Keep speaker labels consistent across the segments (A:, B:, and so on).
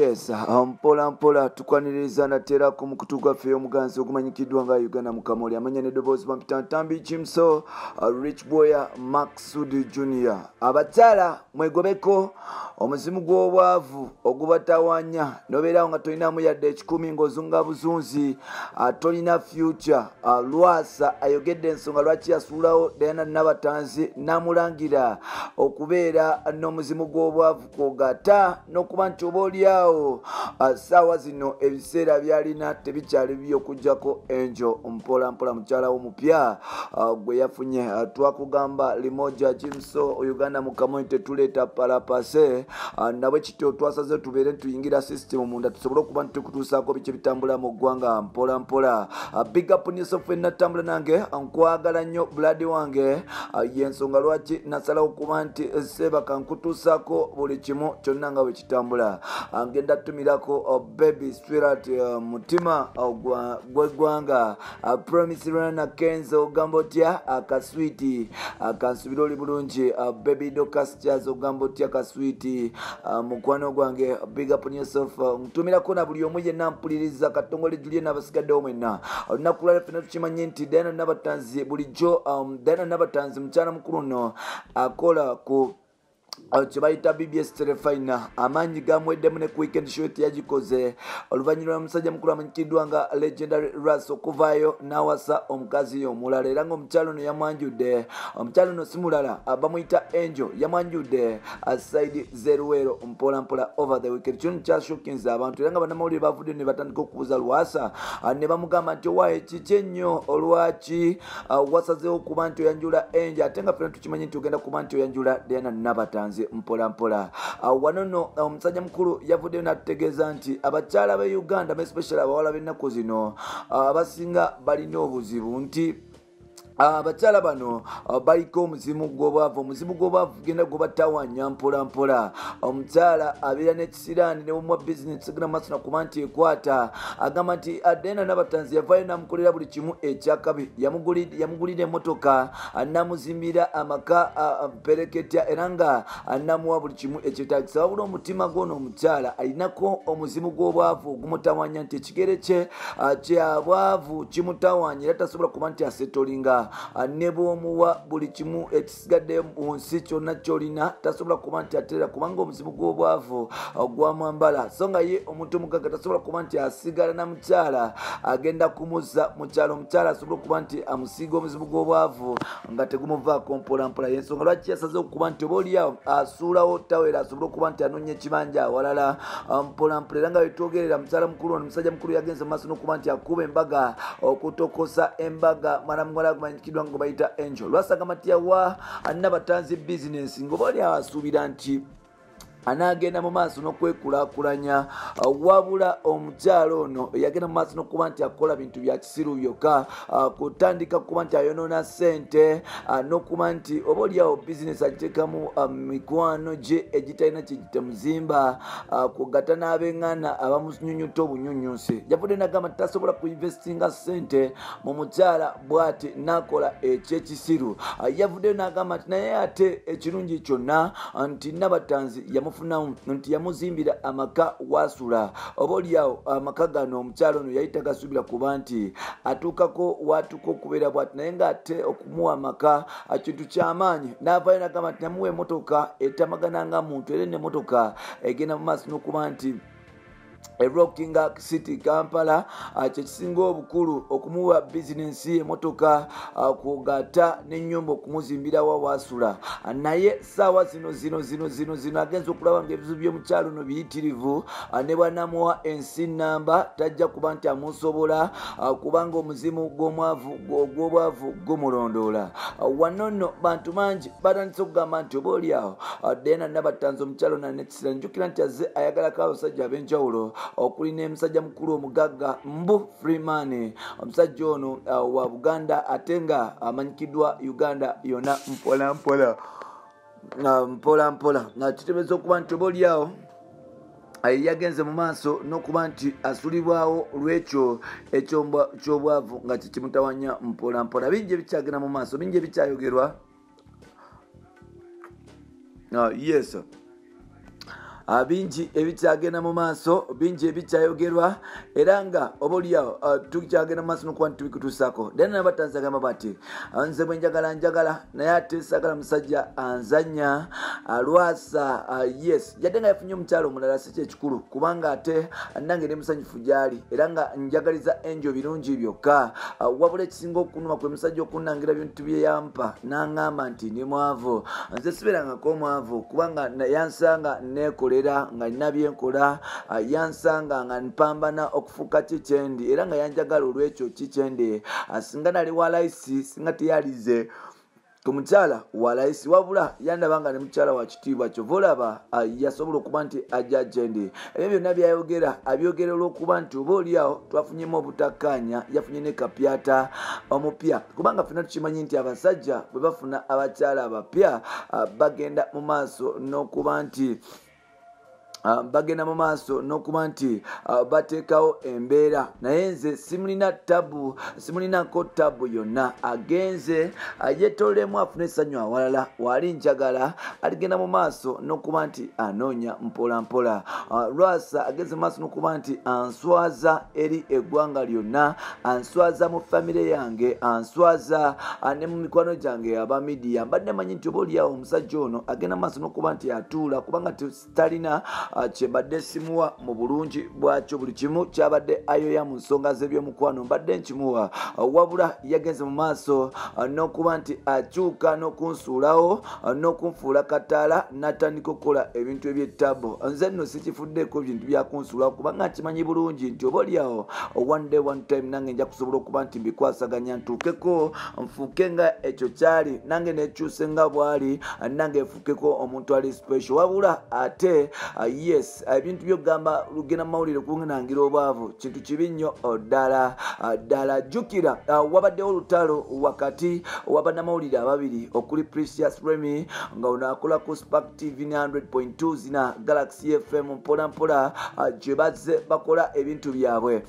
A: yes ah, mpola mpola tukwaniriza natera ku mukutu gwaffe omuganzi ogumanyikiddwa nga uganda mukamoli amanya nedoboozi bampitantambi kimso ah, rich boya maxud junior abakyala mwegobeko omuzimu gw'obwavu ogubatawanya nobeerawo nga tolinamu yadde ekikumi ng'ozunga buzunzi ah, tolina future ah, lwasa ayogedde ensonga lwaki yasuulawo dayana nabatanzi namulangira okubeera n'omuzimu gw'obwavu kwogata n'okuba nti oba olyawo saawa zino ebiseera byalina tebikyali byokujjako enjo mpola mpola mukyala wo mupya gwe yafunye twakugamba limoja kimso uganda mukamoni tetuleeta palapase nabwe kityo twasaze tubeere ntituyingira system munda tusobole okuba nti tukutuusaako biki bitambula mu ggwanga mpola mpola big up niso ffe natambula nange nkwagala nnyo buladi wange Ah, yensonga lwaki nasalawo kuba nti eh, seebaka nkutuusako buli kimu kyonna nga bwe kitambula ah, ngenda tumirako oh, baby swirat eh, mutima oh, gwegwanga ah, promisrana kenzo ogamba otya akaswiti kansubira oli bulungi baby docasjaz ogamba otya kaswiti mukwano gwange bigapnyosof tumirako na buli omu yenna mpuliriza katongole julie n'abasigaddewo mwenna olunaku lwala fena tukimanye nti diana nabatanzi bulijjo um, diana nabatanzi mukyala mukulu no akola ku kyebayita bbs terefina amaanyi gamweddemu ne ku weekend show teyagikoze oluvannyuma lwa musajja mukulu amanyikiddwa nga legendary ras okuvaayo n'awasa omukazi omulala era ngaomukyalo ono yamwanjudde omukyalo ono si mulala bamuyita angel yamwanjudde asaidi ze luweero mpolampola over the weekend kino kyashokinze abantu era nga bannamawulire bavuddeyo ne batandika okubuuza lwasa ah, ne bamugamba nti owaye kiki ennyo olwaki ah, wasazeewo okuba nti oyanjula enje ate nga fena tukimanyi nti ogenda kuba nti oyanjula diana nabatanzi mpolampola ah, wano no omusajja mukulu yavuddeyo n'atutegeeza nti abakyala be uganda mespecially abawala b'ennaku zino abasinga balina obuzibu nti Ah, abakyala bano ah, baliko omuzimu gwobwavu omuzimu gwobwavu genda gwebatawanya mpolampola omukyala abeera nekisiraani newomwa bizinesi egenda maaso nakuba nti ekwata agamba nti adena nabatanzi yavayo namukolera buli kimu ekyakabi yamugulira emotoka ah, namuzimbira amaka pereketya era nga namuwa buli kimu ekyetagisa wabula omutima gwono omukyala alinako omuzimu gwobwavu ogumutawanya nti ekigere kye ah, kyabwavu kimutawanya era tasobola kuba nti asetolinga ah, ne bwomuwa buli kimu ekisigadde mu nsi kyonna kyolina tasobola kuba nti aterera kubanga omuzimu gw'obwavu ah, gwamwambala so nga ye omuntu omugagga tasobola kuba nti asigala na mukyala agenda kumuzza mukyalo omukyala asobola okuba nti amusiiga omuzimu gw'obwavu nga tegumuvaako mpolampola yensonga lwaki yasaze okuba nti oba oliawo asuulawo tawera asobole okuba nti anoonya ekibanja awalala ah, mpolampola era nga wetwogerera mukyala mukulu ono musajja mukulu yagenze mumaaso nokuba nti akuba embaga okutokosa embaga mwana muwala agumanyikiddwa nga bayita angel lwasagamba nti yawa anna batanzi bizinesi ngaoba oliawo asuubira nti anaagenda mu maaso n'okwekulakulanya uh, wabula omukyalo ono yagenda mu maaso n'okuba nti akola bintu bya kisiru byokka uh, kutandika kukuba nti ayonoona ssente uh, n'okuba nti oba oliawo bizinesi agiteekamu mikwano gye egitalina kyegitemuzimba kugata n'abeng'ana abamunyunyuta obunyunyunsi yavudde nagamba tasobola kuinvestinga ssente mu mukyala bwati nakola ekyekisiru ah, yavuddeyo n'agamba nti naye ate ekirungi kyonna ah, nti nabatanzi yamufunamu nti yamuzimbira amaka wasula oba olyawo ah, amaka gano omukyalo ono yali tagasuubira kuba nti atuukako waatuuka okubeera bwati naye ng'ate okumuwa amaka kintu kyamaanyi n'avayo n'agamba nti namuwa emotoka etamagana nga muntu era enemotoka egenda mu maaso n'okuba nti erockinga city kampala ah, kyekisinga obukulu okumuwa bizinensi emotoka ah, kugata nenyumba okumuzimbira wawasula ah, naye saawa zino zino zino zino zino agenza okulaba nga ebizibu byomukyalo no biyitirivu ne bwanamuwa ensi namba tajja kuba nti amusobola kubanga omuzimu gwomwavu ogwobwavu gumulondoola wano nno bantu bangi batandise okugamba nti oba oliawo dena nabatanza omukyalo nane sila njukira nti azze ayagalako abasajja ab'enjawulo okuli n'emusajja mukulu omugagga mbu freeman omusajja ono uh, wa buganda ate nga amanyikiddwa uganda yona mpola mpola uh, mpola mpola nga kitebeeza okuba nti oba olyawo yagenze mu maaso n'okuba nti asulibwawo lw'ekyo ekyobwavu nga kikimutawanya mpola mpola bingi ebikyagenda mu maaso bingi ebikyayogerwa ah, yes ah, bingi ebikyagenda mu maaso bingi ebikyayogerwa era nga oba oliawo ah, tukyagenda mumaaso nokuba ntitubikutuusako then nabatanzagamba bati nze bwe njagala njagala naye ate sagala musajja anzanya alwasa yes yadde nga yafunye omukyalo omulala si kyekikulu kubanga ate nange ne musanyufu gyali era nga njagaliza enjo birungi byokka ah, wabula ekisinga okunuma kwe musajja okunangira bintu bye yampa nangamba nti ndi mwavu nze siberangako omwavu kubanga yansanga nekolera nga nina byenkola ah, yansanga nga mpambana okufuuka ki kyendi era nga yanjagala olwekyo ki kyendi ah, singa nali walaisi singa teyalize omukyala walayisi wabula yandaba nga ne mukyala wa kitiibwa kyova olaba yasobola okuba nti ajja ajendi ebyo byonna byayogera abyogera olwokuba nti oba oliawo twafunyemu obutakkaanya yafunye ne kapyata omupya kubanga fena tukimanyi nti abasajja bwe bafuna abakyala abapya bagenda mu maaso n'okuba nti Ah, bagenda mu maaso n'okuba nti ah, bateekawo embeera naye nze simulina tabu simulinako tabu yonna agenze ah, yetolemu afune essanyu awalala waali njagala aligenda mu maaso n'okuba nti anoonya mpola mpola lwasa agenze mu maaso n'okuba nti answaza eri eggwanga lyonna answaza mu famire yange answaza ah, ne mu mikwano gyange aba midiya mbadde manyi nti oba oliawo omusajja ono agenda maaso nokuba nti atuula kubanga talina ah, kyebadde simuwa mu bulungi bwakyo buli kimu kyabadde ayoya mu nsonga z'ebyomukwano mbadde nkimuwa ah, wabula yagenze mu maaso nokuba nti akyuka nokunsuulawo uh, n'okunfuula kataala n'atandika okukola ebintu eby'ettabo nze nno sikifuddeeko bintu byakunsuula kubanga nkimanyi bulungi nti oba olyawo one day one time nange nja kusobola okuba nti mbikwasaganya ntuukeko nfuuke nga ekyo kyali nange nekyuse nga bwali nange nfuukeko omuntu ali special wabula ate uh, yes ebintu byokugamba lugenda mumawulire kunangira obwavu kintu kibi nnyo oh, ddala ah, ddala jjukira ah, wabaddewo olutalo wakati wabanamawulire ababiri okuli precious remy nga ono akola ku spark tv 900.2 zina galaxy fm mpolampola ah, gye bazze bakola ebintu byabwe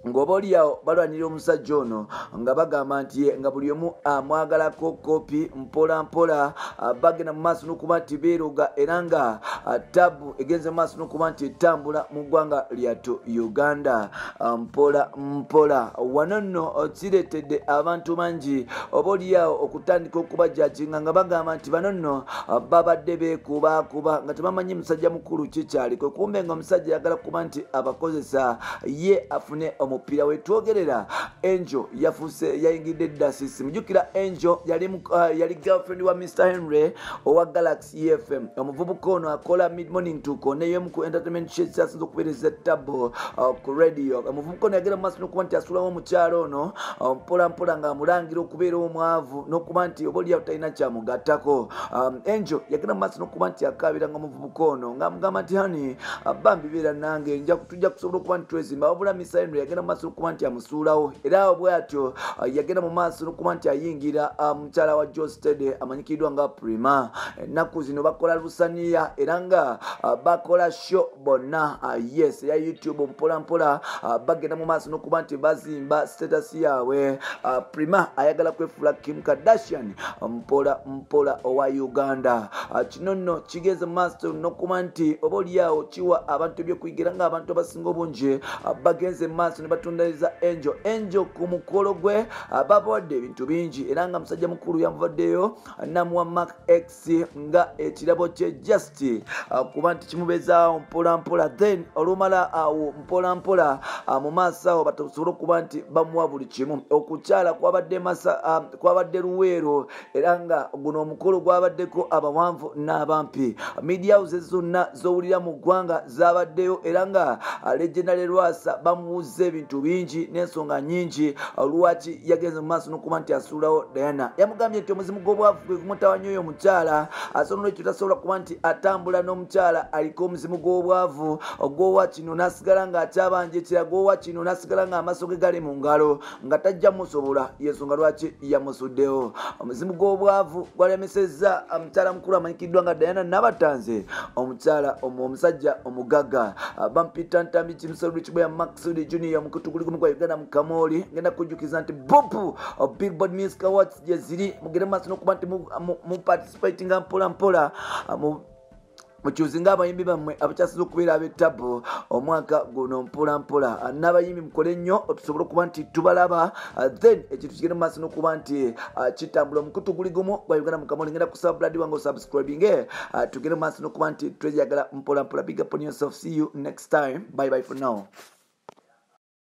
A: ng'oba oliawo balwanira omusajja ono nga bagamba nti nga buli omu amwagalako kopi mpola mpola ah, bagenda mu maaso n'okuba nti beeroga era nga ah, tabu egenze mu maaso n'okuba nti etambula mu ggwanga lyatu uganda ah, mpola mpola wano nno kireetedde abantu bangi oba oliawo okutandika okubajakinga nga bagamba nti bano nno babadde beekubaakuba nga tebamanyi musajja mukulu kikyaliko kumbe nga omusajja yagala kuba nti abakozesa ye afune omupiira we twogerera angel yafuuse yayingidde dasisi mujukira angel yali uh, girlfriend wa mr henry owa galaxy efm omuvubuka ono akola mid morning tuko neyomu ku entertainment shesi asinza okubeereza tabbo uh, ku radio kono yagenda mumaaso nokuba nti asulawo omukyalo ono um, mpola mpola nga amulangira okubeera omwavu nokuba nti oba oliyawo talina kyamugattako um, angel yagenda mumaaso nokuba nti akaabira nga omuvubuka ono nga amugamba nti hani uh, bambi beera nange nja tujja kusobola okuba nti twezimba wabula misaino yagenda mumaaso nokuba nti amusuulawo era awo bwatyo uh, yagenda mu maaso nokuba nti ayingira uh, mukyala wa jo stede amanyikiddwa nga prima ennaku zino bakola lusaniya era nga bakola kyo bonna ah, yes eya youtube mpolampola ah, bagenda mu maaso nokuba nti bazimba status yaabwe ah, prima ayagala kwefuula kim kardashian mpola mpola owa uganda kino nno kigeze mu maaso nokuba nti oba olyawo kiwa abantu ebyokuyigira nga abantu abasinga obungi bagenze mu maaso ne batundaliza enjo enjo ku mukolo gwe babawadde ebintu bingi era nga musajja mukulu yamuvaddeyo namuwa mark x si nga ekirabo kye just uh, kuba nti kimubezaawo mpolampola then olumala awo mpolampola uh, mu maaso awo batasobole okuba nti bamuwa buli kimu okukyala kwabadde uh, luweero era nga guno omukolo gwabaddeko abawanvu n'abampi media houses zonna zowulira mu ggwanga zabaddeyo era nga legendary lwasa bamubuuzza ebintu bingi n'ensonga nyingi lwaki yagenze mu maaso n'okuba nti asuulawo diana yamugambye nti omuzimu gw'obwavu gwe gumutawanyo oyo omukyala ate nolwekyo tasobola kuba nti atambula n'omukyala aliko omuzimu gw'obwavu ogwowa kino n'asigala ng'akyabanja ekiraga owa kino n'asigala ng'amaaso ge gali mu ngalo nga tajja musobola yensonga lwaki yamusuddewo omuzimu gw'obwavu gwalemesezza omukyala mukulu amanyikiddwa nga dayana nabatanze omukyala omusajja omugagga bampita ntambi kimusolbikibwa maxud junior mukutukulikumu gwa uganda mukamooli ngenda kujjukiza nti bopu billboard music awards gyeziri mugere maaso nokuba nti muparticipatinga mpola mpola mukyuzinga abayimbi bammwe abakyasiza okubeera abetabu omwaka guno mpolampola n'abayimbi mukole nnyo tusobole okuba nti tubalaba uh, then ekintu kigende mu maaso nokuba nti uh, kitambula omukutu guli gumu gwa uganda mukama olengenda kusaba buladi wange osubscribinge uh, tugende mu maaso nokuba nti tweyagala mpolampola bigaponyosofcu next time by by for now